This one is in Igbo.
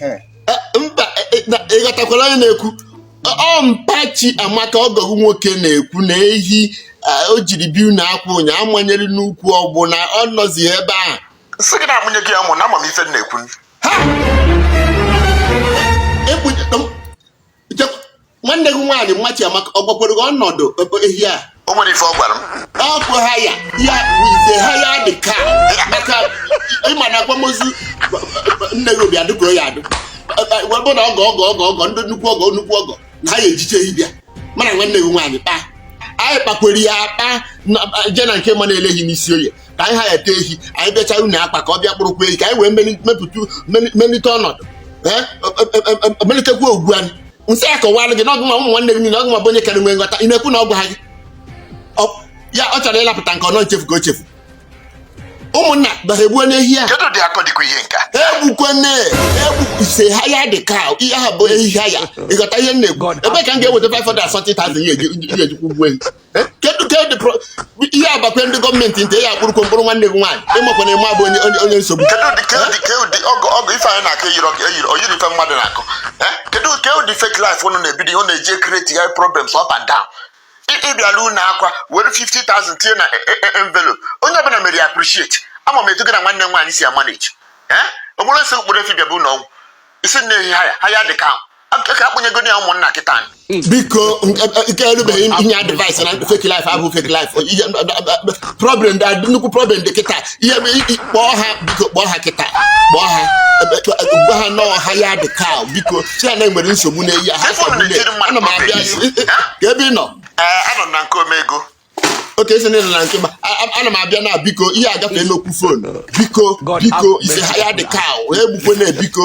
Eh, mba eh, eh, na- ị ghọtakwara onye na-ekwu Ọ- ọ mpa Chiamaka ọgọ gị nwoke na-ekwu na ehi ah, o jiri bịa unu akwa ụnya a manyere n'ukwu ọgbụ na ọ nọzi ebe a sị gị na-amụnye gị ya mụ na ama m ife m na-ekwu ha Ekpunye- nwanne gị nwaanyị mma Chiamaka ọ gwakwere gị ọnọdụ ehi a o nwere ife ọ gwara m ọkụ hire ya ị sị hire dị ka maka ị ma na akwamozu nne gị bịa dị ka ọ ya-adị bụ na ọgọ ọgọ ọgọ ọgọ ndị nnukwu ọgọ nnukwu ọgọ na ha ya-ejicha ehi bịa mana nwanne gị nwaanyị kpaa anyị kpakwere ya akpa je na nke Emma na-ele ehi n'isi oye ka anyị hire-te ehi anyị bịachaa unu akwa ka ọ bịa kpụrụkwa ehi ka anyị wee mepụta melite ọnọdụ melitekwa ugwu anyị m sị ya kọwara gị na ọ gịnwa ụmụ nwanne gị niile ọ gịnwa bụ onye kara nwee nghọta ị na-ekwu na ọ gwaghị gị ya ọ chọrọ ịlapụta nke ọnọ nchefu ka o chefu ụmụnna bara egbuo n'ehi a egbukwana egbu ị sị hire dị ka ehi a bụ ehi hire ị ghọta ihe m na-ekwu ebe ka m ga-eweta 540,000 ya-eji kwụọ ụgwọ ehi kedu ka dị ihe a bakwa ndị gọọmenti ntị a ya-akpụrụkwa m kpụrụ nwanne gị nwaanyị ị makwa na Emma bụ onye onye nsogbu kedu ụdị kedu ụdị kedu ụdị ọgụ ọgụ ife anyị na-akọ eyiri ọgụ eyiri oyiri ife mmadụ na-akọ kedu ke ụdị fake life unu na-ebido ọ na-eji e-create problems up and down ị bịala ụlọ akwa were 50,000 tinye na e, e, e, envelope onye ọbụla mere ya appreciate ama m etu gị na nwanne m nwaanyị si amanage o nwere nsị mkpụrụ efi bịa bụ ụlọ ọgwụ ị sị na ehi hire hire dị ka ka a kpụnyegodi ya ụmụnna kịta biko nke erubeghị inye advice na fake life abụ fake life problem dị nnukwu problem dị kịta ihe kpọọ ha biko kpọọ ha kịta kpọọ ha gwa ha na ọ hire dị ka biko sị ya na e nwere nsogbu na ehi a ana m abịa kee ebe ị nọ anọ m na nke omego okay ị sị nile na nke Emma a- a- ana m abịa na biko ihe agafee n'okwu fon biko God biko have ị sị mercy hire dị on us. ka o egbukwana biko